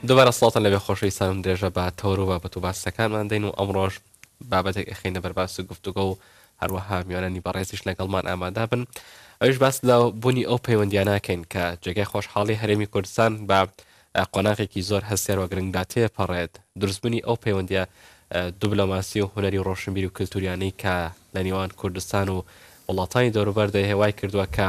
دوبارە سڵاتان لەبێ خۆشەویستانم درێژە بە تەوەر و بابەت و باسەکانمان دەین و ئەمڕۆژ بابەتێک ئەخینە بەرباس و گفتوگە و هەروەها میوانانی بەڕێزیش لەگەڵمان ئامادا بن ئەوش باس لە بوونی ئەو پەیوەندیانناکەین کە جێگای خۆشحاڵی هەرێمی کوردستان بە قۆناغێکی زۆر هەستێر و گرنگدا تێپەڕێت دروستبوونی ئەو پەیوەندە دوبلۆماسی و هوەری ڕۆشنبیر و کللتوریانەی کە لە نیوان کوردستان و وڵاتانی دەوروبەر دەیه وای کردوە کە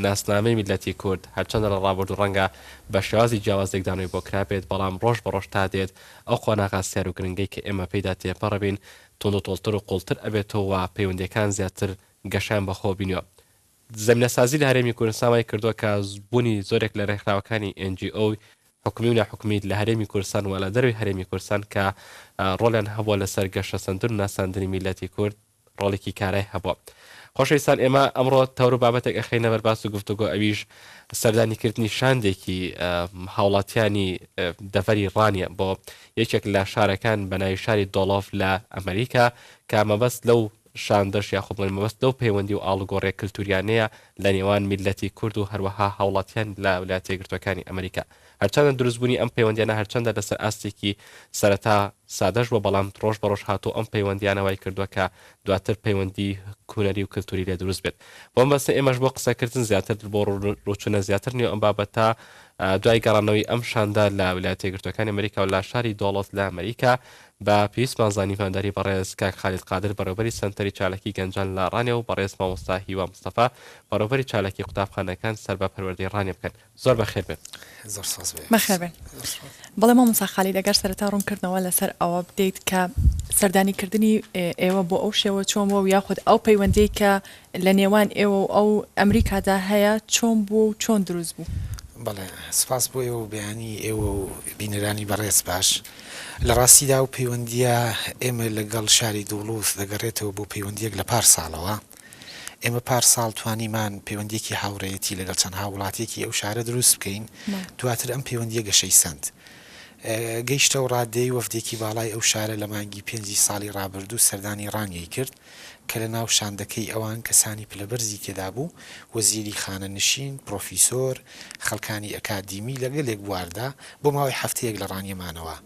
ناسنامەی میللەتی کورد هەرچەندە لە ڕابردو ڕەنگە بە شێوازی جیاواز لێکدانەوەی بۆ کرابێت بەڵام ڕۆژ بە ڕۆژ تا دێت ئەو قۆناغە سیار و گرنگەی کە ئێمە پێیدا تێپەڕبین توندوتۆڵتر و قوڵتر ئەبێتەوە و پەیوەندیەکان زیاتر گەشەیان بە خۆ بینیوە زەمینەسازی لە هەرێمی کوردستان وای کردووە کە بوونی زۆرێک لە رێکخراوەکانی ئێن جی ئۆی حکومی و ناحکومی لە هەرێمی کوردستان و لە دەرەوەی هەرێمی کوردستان کە رۆڵیان هەبووە لەسەر گەشەسەندن و ناساندنی میللەتی کورد رۆڵێکی کارای هەبووە. خۆشەویستان ئێمە ئەمڕۆ تەور و بابەتێک ئەخەینە بەر باس و گفتوگۆ ئەویش سەردانیکردنی شاندێکی هاوڵاتیانی دەڤەری ڕانیە بۆ یەکێک لە شارەکان بە ناوی شاری دۆڵۆف لە ئەمریکا کە مەبەست لەو شاندەش یاخود بڵێن مەبەست لەو پەیوەندی و ئاڵوگۆڕیە کلتوریانەیە لە نێوان میللەتی کورد و هەروەها هاوڵاتیان لە ولایەتە یەکگرتوەکانی ئەمریکا. هەرچەندە دروست بونی ئەم پەیوەندیانە هەرچەندە لەسەر ئاستێکی سەرەتا سادەش بوە بەڵام ڕۆژ بە ڕۆژ هاتوە ئەم پەیوەندیانە وای کردوە کە دواتر پەیوەندی هونەری و کلتوری لێ دروست بێت. بۆ مەبەستە ئێمەش بۆ قسە کردن زیاتر دل بۆ ڕوچونە زیاتر نێو ئەم بابەتە دوای گەڕانەوەی ئەم شاندە لە ولایەتە یەکگرتوەکانی ئەمریکا و لە شاری دۆڵەز لە ئەمریکا بە پێویستمان زانی میوانداری بەڕێز کاک خالید قادر بەڕێوبەری سەنتەری چالاکی گەنجان لە ڕانێ و بەڕێز مامۆستا هیوا مستەفا بەڕێوبەری چالاکی قوتابخانەکان سەر بە پەروەردەی ڕانێ بکەن زۆر بەخێر بێن. زۆر ساز بوو. بەخێر بێن. بەڵێ مامۆستا خالید ئەگەر سەرەتا ڕوونکردنەوە لەسەر ئەوە بدەیت کە سەردانی کردنی ئێوە بۆ ئەو شێوە چۆن بووە و یاخود ئەو پەیوەندیەی کە لە نێوان ئێوە و ئەو ئەمریکادا هەیە، چۆن بووە و چۆن دروست بوو؟ بەڵێ، سپاس بۆ ئێوە و بەیانیی ئێوە و بینەرانی بەڕێز باش. لە ڕاستیدا ئەو پەیوەندییە ئێمە لەگەڵ شاری دوڵوز دەگەڕێتەوە بۆ پەیوەندییەک لە پار ساڵەوە. ئێمە پار ساڵ توانیمان پەیوەندییەکی هاوڕێیەتی لەگەڵ چەند هاووڵاتییەکی ئەو شارە دروست بکەین، دواتر ئەم پەیوەندییە گەشەی سەند. گەیشتە ئەو ڕاددەی وەفدێکی باڵای ئەو شارە لە مانگی پێنجی ساڵی ڕابردوو سەردانی ڕانیەی کرد، کە لە ناو شاندەکەی ئەوان کەسانی پلە بەرزی تێدا بوو، وەزیری خانەنشین، پرۆفیسۆر، خەڵکانی ئەکادیمی لە گەلێک بواردا بۆ ماوەی هەفتەیەک لە ڕانیە مانەوە.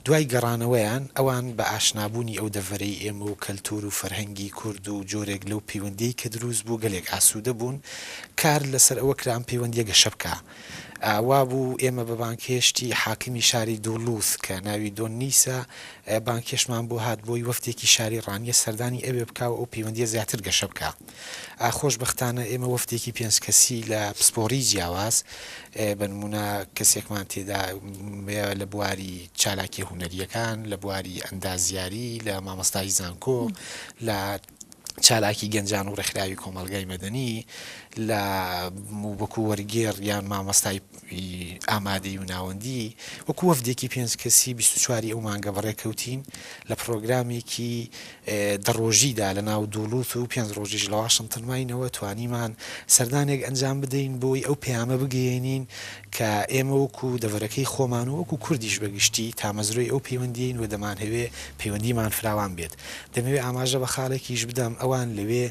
دوای گەڕانەوەیان ئەوان بە ئاشنابوونی ئەو دەڤەرەی ئێمە و کەلتوور و فەرهەنگی کورد و جۆرێک لەو پەیوەندیەی کە درووست بوو گەلێک ئاسوودە بوون، کار لەسەر ئەوە کرا ئەم پەیوەندیە گەشە بکا. وابوو ئێمە بە بانگهێشتی حاکمی شاری دولوز کە ناوی دۆن نیسە بانگهێشتمان بۆ هات بۆی وەفدێکی شاری ڕانیە سەردانی ئەوێ بکا و ئەو پەیوەندیە زیاتر گەشە بکا خۆشبەختانە ئێمە وەفدێکی پێنج کەسی لە پسپۆری جیاواز بە نمونە کەسێکمان تێدا لە بواری چالاکیە هونەریەکان لە بواری ئەندازیاری لە مامۆستایی زانکۆ لە چالاکی گەنجان و ڕێکخراوی کۆمەڵگای مەدەنی لە وەکو وەرگێڕ یان مامۆستای ئامادەی و ناوەندی وەکو وەفدێکی پێنج کەسی بیست و چواری ئەو مانگە بەڕێکەوتین لە پڕۆگرامێکی دە ڕۆژیدا لە ناو دوڵووت و پێنج ڕۆژیش لە واشنتن ماینەوە توانیمان سەردانێک ئەنجام بدەین بۆی ئەو پەیامە بگەیەنین کە ئێمە وەکو دەڤەرەکەی خۆمان و وەکو کوردیش بەگشتی تامەزرۆی ئەو پەیوەندیین و دەمانهەوێ پەیوەندیمان فراوان بێت دەمەوێ ئاماژە بە خاڵێکیش بدەم، ئەوان لەوێ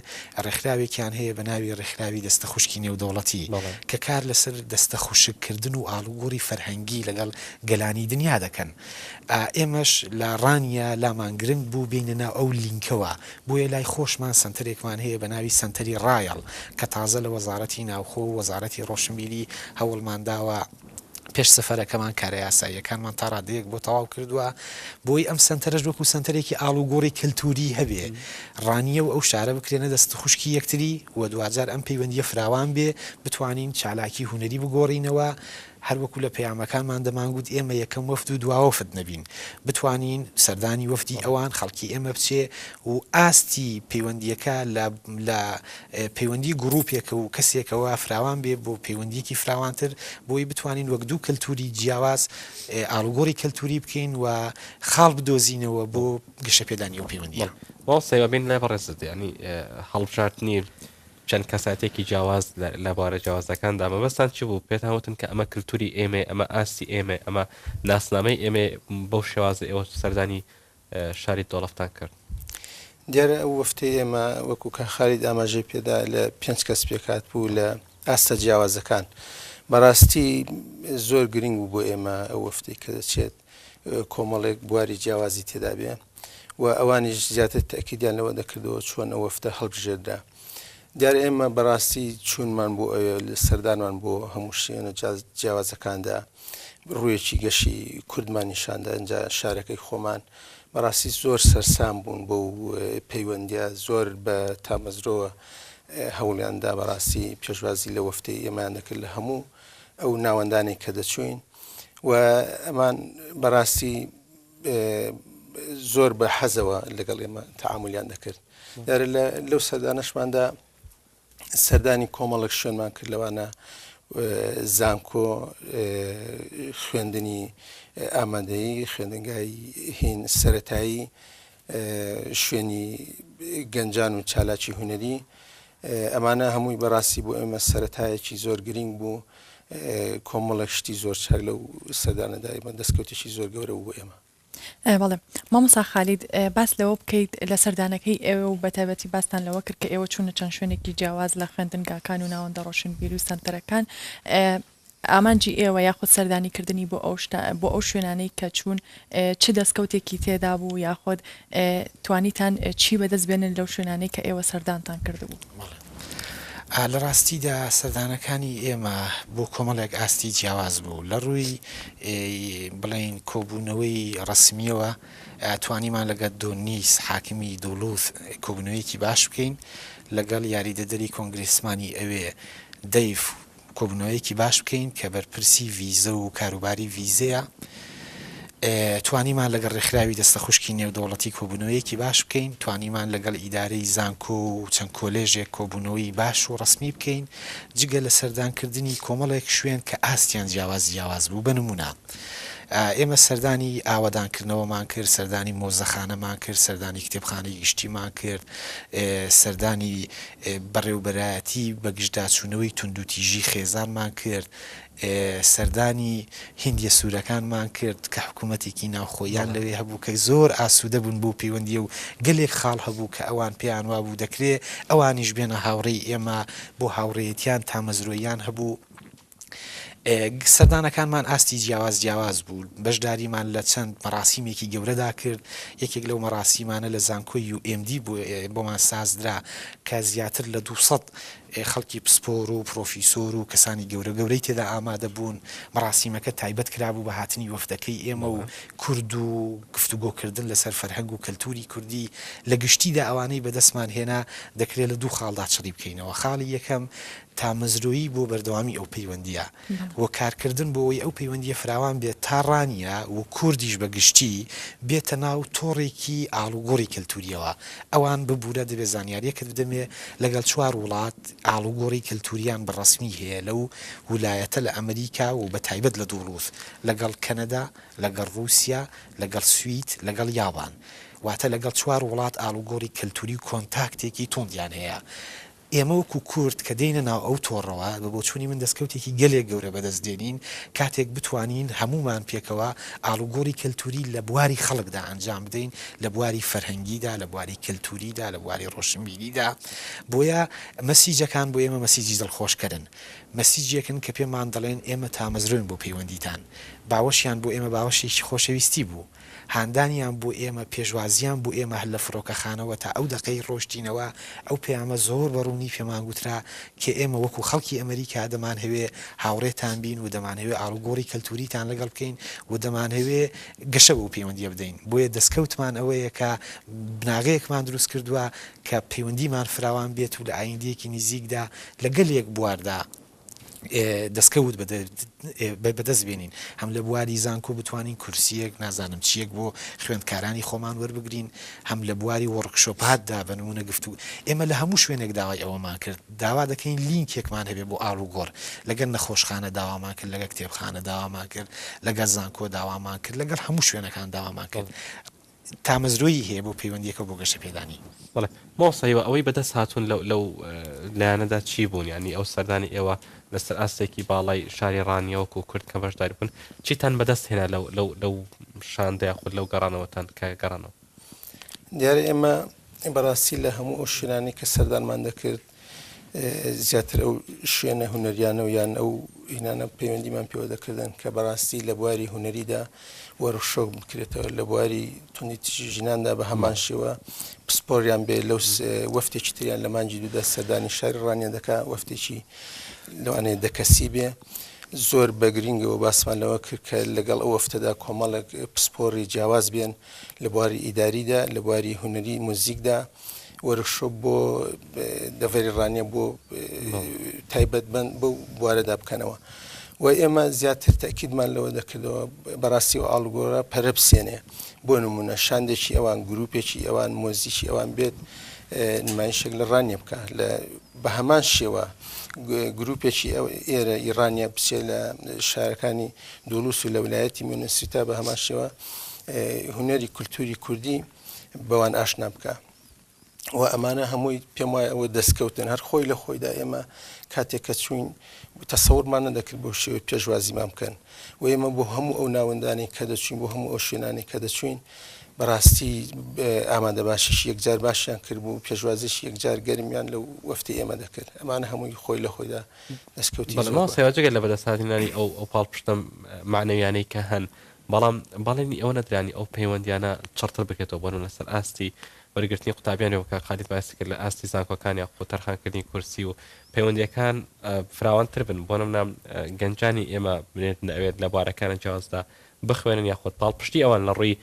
ڕێکخراوێکیان هەیە بە ناوی ڕێکخراوی دەستە خوشکی نێودەوڵەتی بەڵێ. کە کار لەسەر دەستە خوشک کردن و ئاڵوگۆڕی فەرهەنگی لەگەڵ گەلانی دنیا دەکەن. ئا ئێمەش لە ڕانیە لامان گرنگ بوو بێینە ناو ئەو لینکەوە. بۆیە لای خۆشمان سەنتەرێکمان هەیە بە ناوی سەنتەری ڕایەڵ کە تازە لە وەزاڕەتی ناوخۆ و وەزاڕەتی ڕۆشنبیری هەوڵمان داوە، پێش سەفەرەکەمان کارە یاساییەکانمان تا ڕادەیەک بۆ تەواو کردووە، بۆی ئەم سەنتەرەش وەکو سەنتەرێکی ئاڵوگۆڕی کەلتووری هەبێ، ڕانیە و ئەو شارە بکرێنە دەست خوشکی یەکتری و دواجار ئەم پەیوەندییە فراوان بێ، بتوانین چالاکی هونەری بگۆڕینەوە، هەر وەکو لە پەیامەکانمان دەمانگوت ئێمە یەکەم وەفد و دوا وەفد نەبین، بتوانین سەردانی وەفدی ئەوان، خەڵکی ئێمە بچێ و ئاستی پەیوەندییەکە لە پەیوەندی گروپێک و کەسێکەوە فراوان بێ بۆ پەیوەندیەکی فراوانتر بۆی بتوانین وەک دوو کەلتوری جیاواز ئاڵوگۆڕی کەلتوری بکەین و خاڵ بدۆزینەوە بۆ گەشە پێدانی ئەو پەیوەندیە. مامۆستا هیوا بین لای بەڕێزت یانی هەڵبژاردنی چەند کەسایەتێکی جیاواز لە بوارە جیاوازەکاندا مەبەستان چ بوو پێتان وتن کە ئەمە کەلتوری ئێمەیە ئەمە ئاستی ئێمەیە ئەمە ناسنامەی ئێمەیە بەو شێوازە ئێوە سەردانی شاری دۆڵەفتان کرد. دیارە ئەو وەفتەی ئێمە وەکو کاک خالید ئاماژەی پێدا لە پێنج کەس پێکهات بوو لە ئاستە جیاوازەکان بەڕاستی زۆر گرنگ بوو بۆ ئێمە ئەو وەفتەی کە دەچێت کۆمەڵێک بواری جیاوازی تێدابێ و ئەوانیش زیاتر تەکیدیان لەوە دەکردەوە چۆن ئەو وەفتە هەڵبژێردرا. دیارە ئێمە بەڕاستی چوونمان بۆ ئەوێ سەردانمان بۆ هەموو شوێنە جیاوازەکاندا ڕوویەکی گەشی کوردمان نیشاندا ئەجا شارەکەی خۆمان بەڕاستی زۆر سەرسام بوون بۆ پەیوەندە زۆر بە تامەزرۆوە هەوڵیاندا بەڕاستی پێشوازی لە وەفتی ئێمان دەکرد لە هەموو ئەو ناوەندانێک کە دەچوین و ئەمان بەڕاستی زۆر بە حەزەوە لەگەڵ ئێمە تەعاملیان دەکرد یارە لە لەو سەردانەشماندا سەردانی کۆمەڵک شوێنمان کرد لەوانە زانکۆ خوێندنی ئامادەی خوێندنگای هین سەتایی شوێنی گەنجان و چالاکی هونەری، ئەمانە هەمووی بەڕاستی بۆ ئێمە سەرەتایەکی زۆر گرینگ بوو، کۆمەڵێک شتی زۆر چاک لەو سەردانەدا ئێمە دەستکەوتێکی زۆر گەورە بوو بۆ ئێمە. بەڵێ مامۆستا خالید باس لەوە بکەیت لە سەردانەکەی ئێوە و بەتایبەتی باستان لەوە کرد کە ئێوە چوونە چەند شوێنێکی جیاواز لە خوێندنگاکان و ناوەندە ڕۆشنبیری و سەنتەرەکان، ئامانجی ئێوە یاخود سەردانی کردنی بۆ ئەو شتە بۆ ئەو شوێنانەی کە چوون چ دەستکەوتێکی تێدا بوو یاخود توانیتان چی بەدەست بێنن لەو شوێنانەی کە ئێوە سەردانتان کردبوو؟ بەڵێ لە ڕاستیدا سەردانەکانی ئێمە بۆ کۆمەڵێک ئاستی جیاواز بوو لە ڕووی بڵێین کۆبوونەوەی ڕەسمیەوە توانیمان لەگەت دۆنیس حاکمی دولوث کۆبوونەوەیەکی باش بکەین لەگەڵ یاریدەدەری کۆنگرێسمانی ئەوێ دەیڤ کۆبونەوەیەکی باش بکەین کە بەرپرسی ڤیزە و کاروباری ڤیزەیە توانیمان لەگەڵ ڕێکخراوی دەستە خوشکی نێودەوڵەتی کۆبونەوەیەکی باش بکەین توانیمان لەگەڵ ئیدارەی زانکۆ و چەند کۆلێژێک کۆبونەوەی باش و ڕسمی بکەین جگە لە سەردانکردنی کۆمەڵێک شوێن کە ئاستیان جیاواز جیاواز بوو بە نمونە ئێمە سەردانی ئاوەدانکردنەوەمان کرد، سەردانی مۆزەخانەمان کرد، سەردانی کتێبخانەی گشتیمان کرد، سەردانی بەڕێوەبەرایەتی بەگژداچوونەوەی توندوتیژی خێزانمان کرد، سەردانی هندییە سوورەکانمان کرد کە حکوومەتێکی ناوخۆییان لەوێ هەبوو کە زۆر ئاسوودە بوون بەو پەیوەندییە و گەلێک خاڵ هەبوو کە ئەوان پێیان وابوو دەکرێ ئەوانیش بێنە هاوڕێی ئێمە، بۆ هاوڕێیەتییان تامەزرۆییان هەبوو. سەردانەکانمان ئاستی جیاواز جیاواز بوو، بەشداریمان لە چەند مەراسیمێکی گەورەدا کرد، یەکێک لەو مەراسیمانە لە زانکۆی UMD بۆمان سازدرا کە زیاتر لە دوو سەد خەڵکی پسپۆر و پرۆفیسۆر و کەسانی گەورە گەورەی تێدا ئامادە بوون، مەراسیمەکە تایبەت کرابوو بە هاتنی وەفدەکەی ئێمە و کورد و گفتوگۆ کردن لەسەر فەرهەنگ و کەلتوری کوردی، لە گشتیدا ئەوانەی بەدەستمان هێنا دەکرێت لە دوو خاڵدا چڕی بکەینەوە، خاڵی یەکەم تامەزرۆیی بۆ بەردەوامی ئەو پەیوەندییە و کارکردن بۆ ئەوەی ئەو پەیوەندییە فراوان بێت تا ڕانیە و کوردیش بە گشتی بێتە ناو تۆڕێکی ئاڵوگۆڕی کەلتورییەوە ئەوان ببورە دەبێت زانیاریەکت بدەمێ لەگەڵ چوار وڵات ئاڵوگۆڕی کەلتورییان بە ڕەسمی هەیە لەو ولایەتە لە ئەمریکا و بە تایبەت لە دوڵوز لەگەڵ کەنەدا لەگەڵ ڕوسیا لەگەڵ سوید لەگەڵ یابان واتە لەگەڵ چوار وڵات ئاڵوگۆڕی کەلتوری و کۆنتاکتێکی توندیان هەیە ئێمە وەکو کورد کە دێینە ناو ئەو تۆڕەوە، بە بۆچوونی من دەستکەوتێکی گەلێک گەورە بەدەست دێنین، کاتێک بتوانین هەموومان پێکەوە ئاڵوگۆڕی کەلتووری لە بواری خەڵکدا ئەنجام بدەین، لە بواری فەرهەنگیدا، لە بواری کەلتووریدا، لە بواری ڕۆشنبیریدا، بۆیە مەسیجەکان بۆ ئێمە مەسیجی دڵخۆشکەرن، مەسیجێکن کە پێمان دەڵێن ئێمە تامەزرۆین بۆ پەیوەندیتان، باوەشیان بۆ ئێمە باوەشێکی خۆشەویستی بوو. هاندانیان بۆ ئێمە، پێشوازیان بۆ ئێمە هەر لە فڕۆکەخانەوە تا ئەو دەقەی ڕۆشتینەوە، ئەو پەیامە زۆر بە ڕوونی پێمان گوترا کە ئێمە وەکوو خەڵکی ئەمەریکا دەمانهەوێ هاوڕێتان بین و دەمانهەوێ ئاڵوگۆڕی کەلتووریتان لەگەڵ بکەین و دەمانهەوێ گەشە بەو پەیوەندییە بدەین. بۆیە دەستکەوتمان ئەوەیە کە بناغەیەکمان دروست کردووە کە پەیوەندیمان فراوان بێت و لە ئایندەیەکی نیزیکدا لە گەلێک بواردا دەستکەوت بەدەست بێنین، هەم لە بواری زانکۆ بتوانین کورسییەک نازانم چییەک بۆ خوێندکارانی خۆمان وەربگرین، هەم لە بواری وۆڕکشۆپاتدا بە نموونە گفتوو. ئێمە لە هەموو شوێنێک داوای ئەوەمان کرد، داوا دەکەین لینکێکمان هەبێت بۆ ئاڵوگۆڕ، لەگەل نەخۆشخانە داوامان کرد، لەگەل کتێبخانە داوامان کرد، لەگەل زانکۆ داوامان کرد، لەگەڵ هەموو شوێنەکان داوامان کرد. تامەزرۆیی هەیە بۆ پەیوەندیەکە و بۆ گەشەپێدانی. بەڵێ مامۆستا هیوا ئەوەی بەدەست هاتوون لە لەو لایەنەدا چی بوون یانی ئەو سەردانی ئێوە لەسەر ئاستێکی باڵای شاری ڕانیە وەکو کورد کە بەشداری بوون چیتان بەدەست هێنا لەو لەو لەو شاندە یاخود لەو گەڕانەوەتان کە گەڕانەوە؟ دیارە ئێمە بەڕاستی لە هەموو ئەو شوێنانەی کە سەردانمان دەکرد زیاتر ئەو شوێنە هونەریانە و یان ئەو هینانە پەیوەندیمان پێوە دەکردن کە بەڕاستی لە بواری هونەریدا وەرخشۆک بکرێتەوە لە بواری تونی تژی ژناندا بە هەمان شێوە پسپۆریان بێ لەو وەفتێکی تریان لە مانجی دوودا سەردانی شاری ڕانیە دەکا وەفتێکی لەوانەیە دەکەسی بێ. زۆر بەگرنگەوە باسمان لەوە کرد کە لەگەڵ ئەو وەفتەدا کۆمەڵک پسپۆری جیاواز بێن لە بواری ئیداریدا لە بواری هونەری موزیکدا وەرکشۆپ بۆ دەڤەری ڕانیە بۆ تایبەت بن بۆ بوارەدا بکەنەوە و ئێمە زیاتر تاکیدمان لەوە دەکردەوە بەڕاستی و ئاڵگۆرە پەرە بسێنێ بۆ نمونە شاندێکی ئەوان گروپێکی ئەوان مۆزیکی ئەوان بێت نمایشێک لە ڕانیە بکە لە بە هەمان شێوە گروپێکی ئێرە ئیرانیا بچێت لە شارەکانی دولوس و لە ولایەتی مینسیتا بە هەمان شێوە هنەری کولتوری کوردی بەوان ئاشنا بکە و ئەمانە هەمووی پێم وایە ئەوە دەستکەوتن هەر خۆی لە خۆیدا ئێمە کاتێک کە چوین تەسەورمان نەدەکرد بۆ شێوە پێشوازیمان بکەن و ئێمە بۆ هەموو ئەو ناوەندانی کە دەچین بۆ هەموو ئەو شوێنانی کە دەچوین بەڕاستی ئامادە باشیش یەکجار باشیان کرد بوو پێشوازیش یەکجار گەرمیان لە وەفتی ئێمە دەکرد ئەمانە هەمووی خۆی لە خۆیدا دەستکەوتی سێواجگە لە بەدەستهاتنانی ئەو ئەو پاڵ پشتم معنەویانەی کە هەن بەڵام بەڵێنی ئەوە نەدرانی ئەو پەیوەندییانە چڕتر بکرێتەوە بۆنە لەسەر ئاستی وەرگرتنی قوتابیانی وەک کاک خالید باسی کرد لە ئاستی زانکۆکان یاخود تەرخانکردنی کورسی و پەیوەندییەکان فراوانتر بن بۆ نمونە گەنجانی ئێمە بنێتن ئەوێت لە بوارەکانە جیاوازدا بخوێنن یاخود پاڵپشتی ئەوان لە ڕووی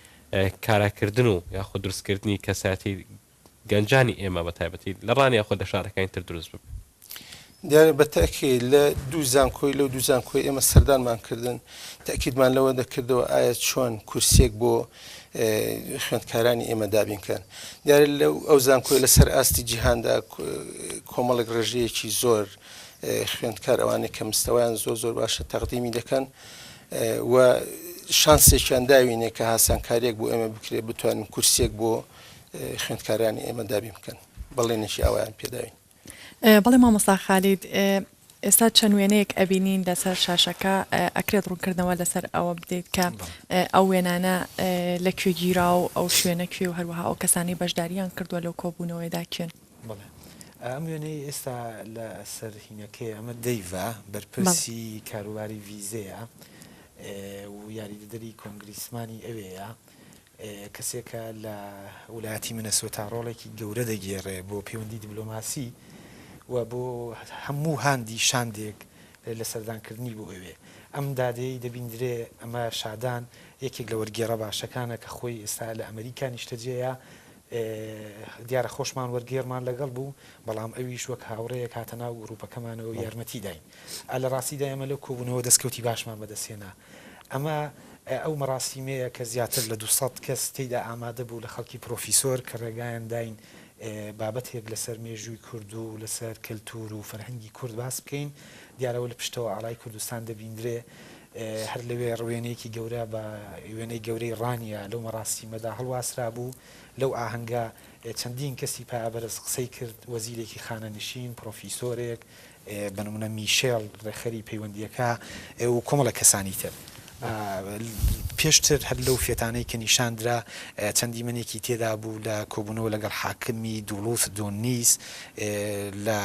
کاراکردن و یاخود دروستکردنی کەسایەتی گەنجانی ئێمە بە تایبەتی لە ڕانیە خۆ لە شارەکانی تر دروست ببن. دیارە بە تەئکید لە دوو زانکۆی لەو دوو زانکۆی ئێمە سەردانمان کردن تەئکیدمان لەوە دەکردەوە ئایا چۆن کورسیەک بۆ خوێندکارانی ئێمە دابین کەن دیارە لە ئەو زانکۆی لە سەر ئاستی جیهاندا کۆمەڵێک ڕێژەیەکی زۆر خوێندکار ئەوانەی کە مستەوەیان زۆر زۆر باشە تەقدیمی دەکەن و شانسێکیان داوینێ کە هاسانکاریەک بۆ ئێمە بکرێت بتوانین کورسێک بۆ خوێندکارانی ئێمە دابین بکەن بەڵێنێکی ئاوایان پێداوین بەڵێ مامۆستا خالید ئێستا چەند وێنەیەک ئەبینین لەسەر شاشەکە ئەکرێت ڕوونکردنەوە لەسەر ئەوە بدەیت کە ئەو وێنانە لە کوێ گیرا و ئەو شوێنە کوێ و هەروەها ئەو کەسانی بەشداریان کردووە لەو کۆبوونەوەیدا کوێن ئەم وێنەی ئێستا لە سەرهینەکەی ئەمە دەیڤە بەرپرسی کاروباری ویزەیە و یاریدەدەری کۆنگریسمانی ئەوەیە کەسێکە لە ویلایەتی مینەسۆتا ڕۆڵێکی گەورە دەگێڕێ بۆ پێوەندی دیبلۆماسی و بۆ هەموو هاندی شاندێک لە سەردانکردنی بۆ ئەوێ. ئەم دادەیەی دەبیندرێ ئەمە شادان یەکێک لە وەرگێڕە باشەکانە کە خۆی ئێستا لە ئەمریکا نیشتەجێیە. دیارە خۆشمان وەرگێڕمان لەگەڵ بوو، بەڵام ئەویش وەک هاوڕێیەک هاتە ناو گرووپەکەمانەوە و یارمەتی داین. لە ڕاستیدا ئێمە لەو کۆبوونەوە دەستکەوتی باشمان بەدەستهێنا. ئەمە ئەو مەراسیمەیە کە زیاتر لە دوو سەد کەس تێیدا ئامادە بوو لە خەڵکی پرۆفیسۆر کە ڕێگایان داین بابەتێک لەسەر مێژووی کورد و لەسەر کەلتوور و فەرهەنگی کورد باس بکەین دیارە ئەوە لە پشتەوە ئاڵای کوردستان دەبیندرێ هەر لەوێ ڕوێنەیەکی گەورە بە وێنەی گەورەی ڕانیە لەو مەراسیمەدا هەڵواسرا بوو لەو ئاهەنگە چەندین کەسی پایەبەرز قسەی کرد وەزیرێکی خانەنشین پرۆفیسۆرێک بە نموونە میشێل ڕێکخەری پەیوەندییەکە و کۆمەڵێک کەسانی تر. پێشتر هەر لەو فێتانەی کە نیشان درا چەند دیمەنێکی تێدا بوو لە کۆبوونەوە لەگەڵ حاکمی دوڵوس دونیس لە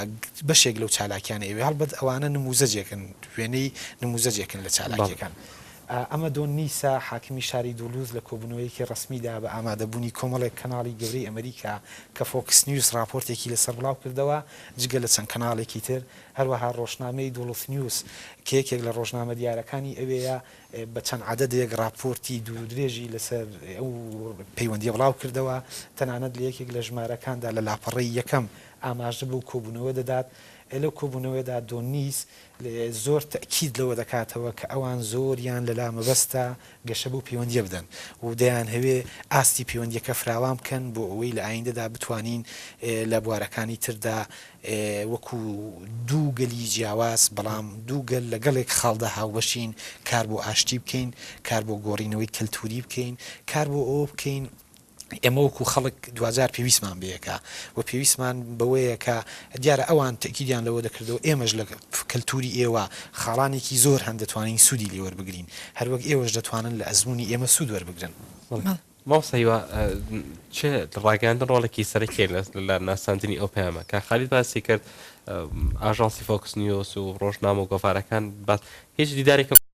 بەشێک لەو چالاکییانە ئەوێ، هەڵبەت ئەوانە نمووزەجێکن، وێنەی نمووزەجێکن لە چالاکییەکان. ئەمە دونیسە، حاکمی شاری دوڵوس لە کۆبوونەوەیەکی ڕەسمیدا بە ئامادەبوونی کۆمەڵێک کەناڵی گەورەی ئەمریکا کە فۆکس نیوز ڕاپۆرتێکی لەسەر بڵاو کردەوە، جگە لە چەند کەناڵێکی تر، هەروەها ڕۆژنامەی دوڵف نیوز کە یەکێک لە ڕۆژنامە دیارەکانی ئەوێیە، بە چەند عەدەدێک ڕاپۆرتی دوورودرێژی لەسەر ئەو پەیوەندییە بڵاو کردەوە، تەنانەت لە یەکێک لە ژمارەکاندا لە لاپەڕەی یەکەم ئاماژە بەو کۆبوونەوە دەدات، لەو کۆبوونەوەیەدا دۆنیس زۆر تەئکید لەوە دەکاتەوە کە ئەوان زۆریان لەلا مەبەستە گەشە بەو پەیوەندییە بدەن و دەیانهەوێ ئاستی پەیوەندییەکە فراوان بکەن بۆ ئەوەی لە ئایندەدا بتوانین لە بوارەکانی تردا وەکو دوو گەلی جیاواز بەڵام دوو گەل لە گەڵێک خاڵدا هاوبەشین کار بۆ ئاشتی بکەین، کار بۆ گۆڕینەوەی کەلتووری بکەین، کار بۆ ئەوە بکەین ئێمە وەکو خەڵک دواجار پێویستمان بەیەکە و پێویستمان بەوەیە کە دیارە ئەوان تەکیدیان لەوە دەکردەوە ئێمەش لە کەلتوری ئێوە خاڵانێکی زۆر هەن دەتوانین سوودی لێ وەربگرین هەروەک ئێوەش دەتوانن لە ئەزموونی ئێمە سوود وەربگرن. مامۆستا هیوا چ لە ڕاگەیاندن ڕۆڵێکی سەرەکیە لە ناساندنی ئەو پەیامە کاک خالید باسی کرد ئاژانسی فۆکس نیۆس و ڕۆژنامە و گۆڤارەکان بەس هیچ دیدارێکم